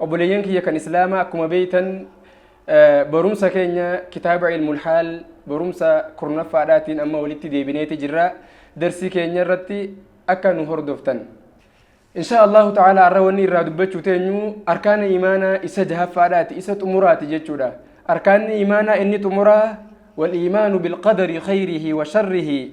Obboleeyyan kiyya kan Islaamaa akkuma beeytan barumsa keenya kitaaba ilmul haal barumsa kurnaffaadhaatiin amma walitti deebineeti jirra. Darsii keenya irratti akka nu hordoftan. Insha Allahu ta'ala har'a wanni irraa dubbachuu teenyu arkaana imaanaa isa jahaffaadhaati isa xumuraati jechuudha. Arkaanni imaanaa inni xumuraa wal imaanu bilqadari khayrihi wa sharrihi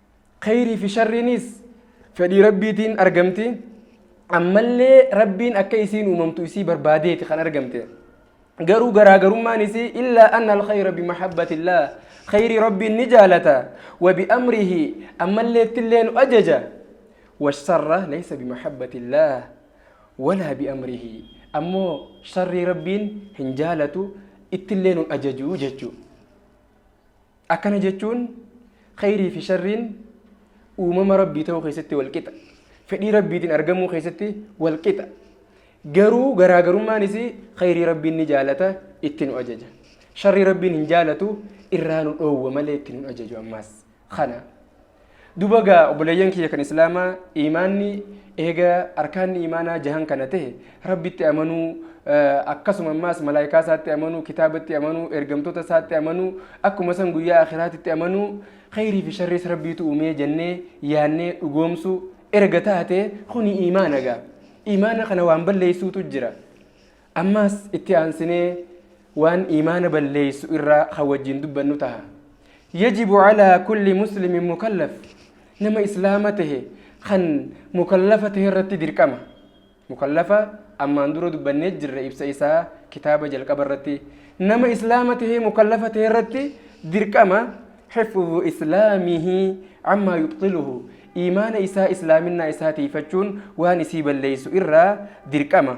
Khayrii fi sharriinis fedhii Rabbiitiin argamti. Ammallee Rabbiin akka isiin uumamtu isii barbaadeeti kan argamte. Garuu garaagarummaan isii illaa anna al-khayra bimahabbatillah khayrii Rabbiin ni jaalata wa bi'amrihi ammallee ittillee nu ajaja washarra laysa bimahabbatillah walaa bi'amrihi ammoo sharrii Rabbiin hin jaalatu ittillee nun ajaju jechuu. Akkana jechuun kheyrii fi sharriin uumama Rabbii ta'uu keessatti wal qixa. Fedhii Rabbiitiin argamuu keessatti wal qixa. Garuu garaagarummaan isii kheyrii Rabbiin ni jaalata itti nu ajaja. Sharrii Rabbiin hin jaalatu irraa nu dhoowwa malee itti nu ajaju ammaas. Kana. Duba gaa obboleeyyan kiyya kan islaamaa iimaanni eega arkaanni iimaanaa jahan kana ta'e rabbitti amanuu akkasuma ammaas malaayikaa isaatti amanuu kitaabatti amanuu ergamtoota isaatti amanuu akkuma san guyyaa akhiraatitti amanuu khayrii fi sharriis rabbiitu uumee jennee yaannee dhugoomsuu erga taate kuni iimaana gaa iimaana kana waan balleessuutu jira Ammaas itti aansinee waan iimaana balleeysu irraa kan wajjiin dubbannu taha. Yajibu calaa kulli muslimin mukallaf nama islaama tahe kan mukallafa tahe irratti dirqama. Mukallafa ammaan dura dubbannee jirra ibsa isaa kitaaba jalqaba irratti. Nama islaama tahee mukallafa tahe irratti dirqama xifzu islaamihi ammaa yubxiluhu iimaana isaa islaaminaa isaa tiifachuun waan isii balleeysu irraa dirqama.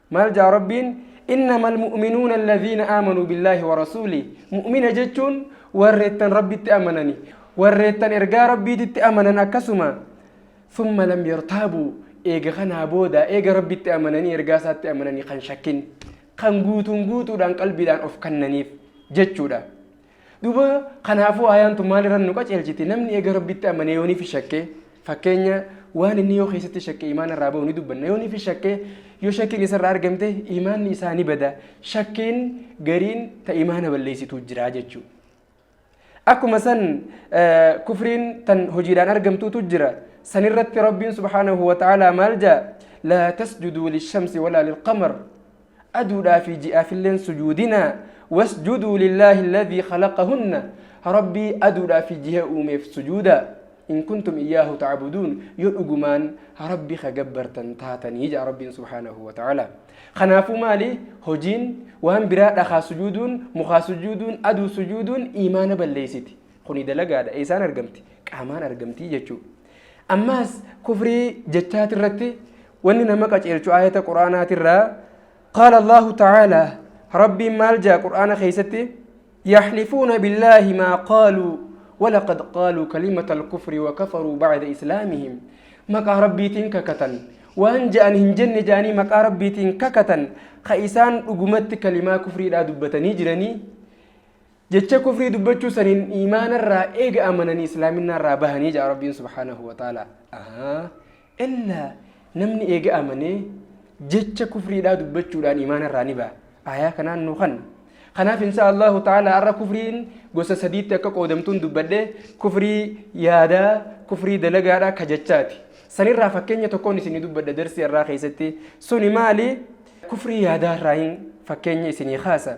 Maal ja'a Rabbiin? Innamal mu'minuuna allaziina aamanuu billaahi wa rasuulih. Mu'mina jechuun warreettan Rabbitti amanani. Warreettan ergaa Rabbiititti amanan akkasuma summa lam yartaabuu eega kanaa booda eega Rabbitti amananii ergaa isaatti amananii kan shakkin kan guutuun guutuudhaan qalbiidhaan of kannaniif jechuudha. Duuba kanaafuu aayaan tun maal irra nu qaceelchiti namni eega rabbitti amanee yoo nifi shakke fakkeenya waan inni yoo keessatti shakke imaana irraa bahu ni dubbanna yoo nifi shakke yoo shakkiin isarraa argamte imaanni isaa ni bada shakkiin gariin ta imaana balleessituu jira jechuu akkuma san kufriin tan hojiidhaan argamtuutu jira san irratti rabbiin subhaanahu wa ta'aalaa maal jaa laa tasjuduu lishamsi walaa lilqamar Aduudhaa fi ji'aafilleen sujuudinaa. Wasjuduu lillaahi alladhii khalaqahunna. Rabbii aduudhaa fi jiha uumeef sujuudaa. In kuntum iyyaahu ta'buduun. Yoo dhugumaan Rabbi ka gabbartan taatanii ja'a Rabbiin subhaanahu wa ta'aalaa. Kanaafuu maali hojiin waan biraa dhakaa sujuuduun, mukaa sujuuduun, aduu sujuuduun iimaana balleeysiti. Kuni dalagaadha. Eeysaan argamti? Qaamaan argamti jechuudha. Ammaas kufrii jechaatirratti wanni nama qaceelchu aayata qur'aanaatirraa qaala Allahu ta'aalaa Rabbiin maal jaa qur'aana keessatti yaxlifuuna billaahi maa qaaluu walaqad qaaluu kalimata alkufri wakafaruu bacda islaamihim maqaa rabbiitiin kakatan waan ja'an hin jenne ja'anii maqaa rabbiitiin kakatan ka isaan dhugumatti kalimaa kufriidhaa dubbatanii jiranii Jecha kufrii dubbachuu saniin iimaana irraa eega amananii islaaminaa irraa bahanii ja'a rabbiin subhaanahu wa ta'ala illa namni eega amanee jecha kufriidhaa dubbachuudhaan iimaana irraa ni baha aayaa kanaan nu kan kanaaf insha allahu ta'ala arra kufriin gosa sadiitti akka qoodamtuun dubbadhe kufrii yaadaa kufrii dalagaadhaa ka jechaati sanirraa fakkeenya tokkoon isin dubbadha darsii irraa keessatti suni maali kufrii yaadaa irraa hin fakkeenya isinii kaasa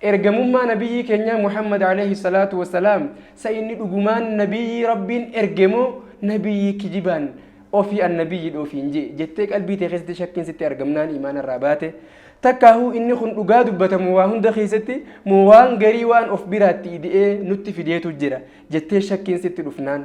Ergamummaa Nabiyyii keenyaa Muhammad Aleeyhi Salaatu Wassalaam sa inni dhugumaan Nabiyyii Rabbiin erge moo Nabiyyii kijibaan ofii Annabiyyiidha ofiin je'e jettee qalbii tee keessatti shakkiin sitti argamnaan iimaana irraa baate takkaahuu inni kun dhugaa dubbatamu waa hunda keessatti moo waan garii waan of biraatti ide'ee nutti fideetu jira jettee shakkiin sitti dhufnaan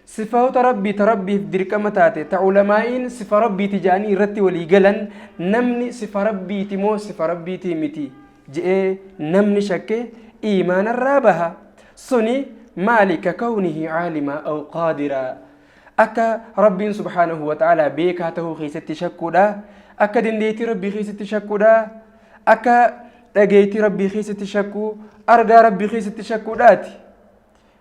Sifaota Rabbii ta Rabbiif dirqama taate ta ulamaa'iin sifa Rabbiiti ja'anii irratti walii galan namni sifa Rabbiiti moo sifa Rabbiitii miti je'ee namni shakke iimaanarraa baha. Suni maali ka kawnihi aalimaa aw qaadiraa akka Rabbiin subhaanahu wa ta'aalaa beekaa tahuu keessatti shakkuudha, akka dandeettii Rabbii keessatti shakkuudha, akka dhageettii Rabbii keessatti shakkuu, argaa Rabbii keessatti shakkuudhaati.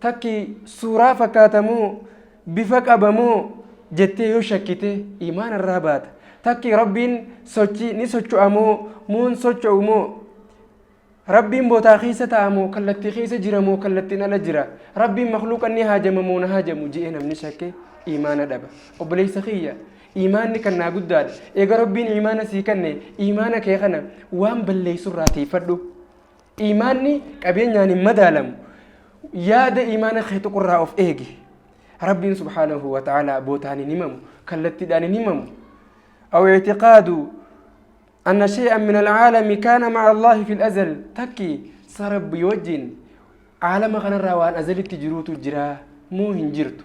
Takki suuraa fakkaata moo, bifa qaba moo jettee yoo shakkite iimaana irraa baata. Takki Rabbiin sochii ni socho'a moo, moo hin socho'u moo? Rabbiin botaa keessa taa'a moo, kallattii keessa jira moo, kallattiin ala jira? Rabbiin makluuqan ni haajama moo na haajamu je'ee namni shakke iimaana dhaba. Obboleessa kiyya iimaanni kan naa guddaadha. Eega Rabbiin iimaana sii kanne iimaana kee kana waan balleessu irraa tiifadhu. Iimaanni qabeenyaan hin madaalamu. Yaada iimaana kee tuqurraa of eegi. Rabbiin subhaanahu wa ta'aalaa bootaan hin himamu, kallattiidhaan hin himamu. Aw ictiqaadu anna shay'an min alcaalami kaana maca Allaahi fil azal takki sa Rabbii wajjin caalama kanarraa waan azalitti jiruutu jira moo hin jirtu.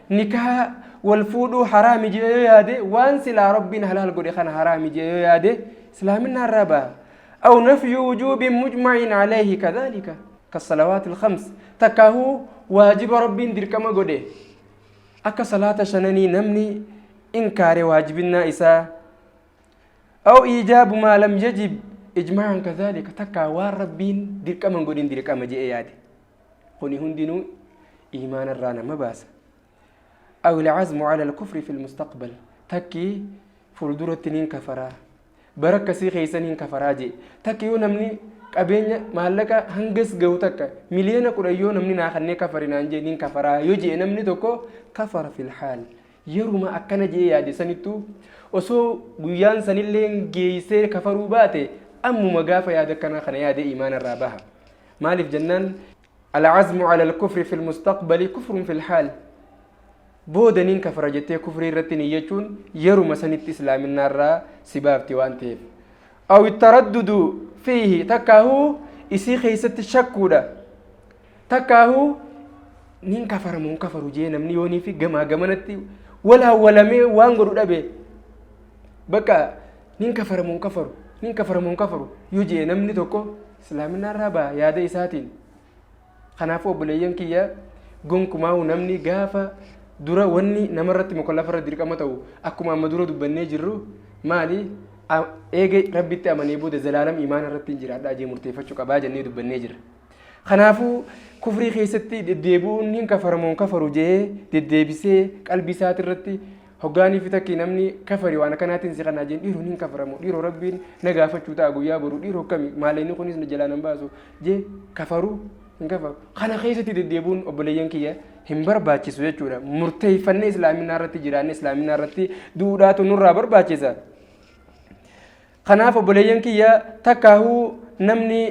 Nikaha, wal fuudhuu, haraami je'ee yoo yaade, waan silaa Rabbiin halaal godhe kana haraami je'ee yoo yaade, Islaaminaa irraa baha. Aw nafyu wujuubin mujma'in alayhi kadhaalika, kassalawaatil khams, takkaahuu waajiba Rabbiin dirqama godhe, akka salaata shananii namni inkaare waajibinnaa isaa, aw iijaabu maa lam yajib ijmaa'an kadhaalika, takkaa waan Rabbiin dirqama hin godhin dirqama je'ee yaade. kuni hundinuu iimaana irraa nama baasa aw ilcazmu cala alkufri fi lmustaqbal takki fuulduratti nin kafaraa bara akkasii keessa nin kafaraa jee takki yoo namni qabeenya maallaqa hangas gahu takka miliyoona kudhan yoo namni naa kannee kafari naan jee nin kafaraa yoo jee namni tokko kafara fi lhaal yeruma akkana jee yaade sanittu osoo guyyaan sanillee geeysee kafaruu baate ammuma gaafa yaada akkanaa kana yaade iimaana irraa baha Maaliif jennaan alcazmu cala alkufri fi lmustaqbali kufrun fi lhaal. Booda nin kafara jettee kufrii irratti niyyachuun yeruma sanitti islaaminaa irraa si baafti waan ta'eef. Aw ittaraddudu fiihi takkaahuu isii keessatti shakkuudha. Takkaahuu nin kafara moo hin kafaru jee namni yoonii fi gamaa gamanatti walaa walamee waan godhu dhabe. Bakka nin kafara moo hin kafaru nin kafara moo hin kafaru yoo jee namni tokko Islaaminaa irraa baha yaada isaatiin. Kanaafuu obboleeyyan kiyya gonkumaahu namni gaafa dura wanni namarratti mukallafarra dirqama ta'u akkuma amma dura dubbannee jirru maali A- eega rabbitti amanee booda zalaalam imaana irratti hin jiraadha jee murteeffachuu qabaa jennee dubbannee jirra. Kanaafuu kufrii keessatti deddeebi'uun hin kafaramoon kafaru jee deddeebisee qalbii isaati irratti Hoggaanii fi takkii namni kafari waan akkanaatiin si kanaa jeen dhiiroon hin kafaramu dhiiroo rabbiin na gaafachuu ta'a guyyaa boru dhiiroo kami maaleenni kunis na jalaa nan baasu jee kafaruu hin kafaru kana keessatti deddeebuun obboleeyyan kiyya hin barbaachisu jechuudha murteeffannee islaaminaa irratti jiraanne islaaminaa irratti duudhaatu nurraa barbaachisa kanaaf obboleeyyan kiyya takkaahuu namni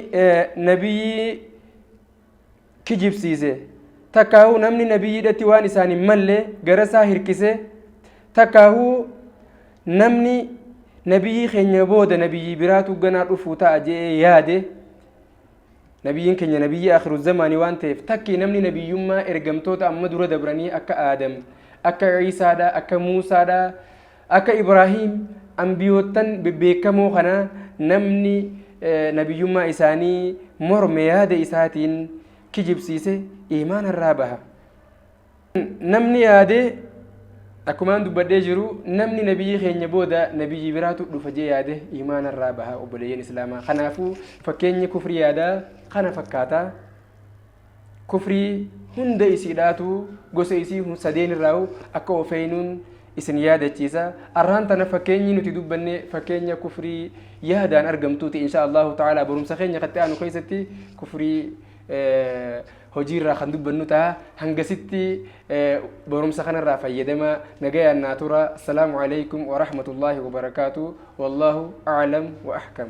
nabiyyi kijibsiise, takkaahuu namni nabiyyiidhatti waan isaan hin malle garasaa hirkise, takkaahuu namni nabiyyii keenya booda nabiyyii biraatu ganaa dhufuu ta'a je'ee yaade, nabiyyiin keenya nabiyyii akhiru zamaanii waan ta'eef takki namni nabiyyummaa ergamtoota amma dura dabranii akka Aadam, akka Ciisaadha, akka Muusaadha, Akka Ibraahiim Anbiyoottan bebbeekkamoo kana namni nabiyyummaa isaanii morme yaada isaatiin kijibsiise iimaana irraa baha. Namni yaade akkumaan dubbadhee jiru namni nabiyyii keenya booda nabiyyii biraatu dhufa jee yaade iimaana irraa baha obboleeyyan islaamaa. Kanaafuu fakkeenyi kufrii yaadaa kana fakkaata. kufrii hunda isiidhaatu gosa isii hun sadeen irraahu akka ofeeynuun isin yaadachiisa arraan tana fakkeenyi nuti dubbanne fakkeenya kufrii yaadaan argamtuuti insha Allahu ta'ala barumsa keenya katti aanu keessatti kufrii hojiirraa kan dubbannu ta'a hangasitti barumsa kanarraa fayyadama nagayaan naa tura assalaamu alaykum wa rahmatullaahi wa barakaatu wallaahu a'lam wa ahkam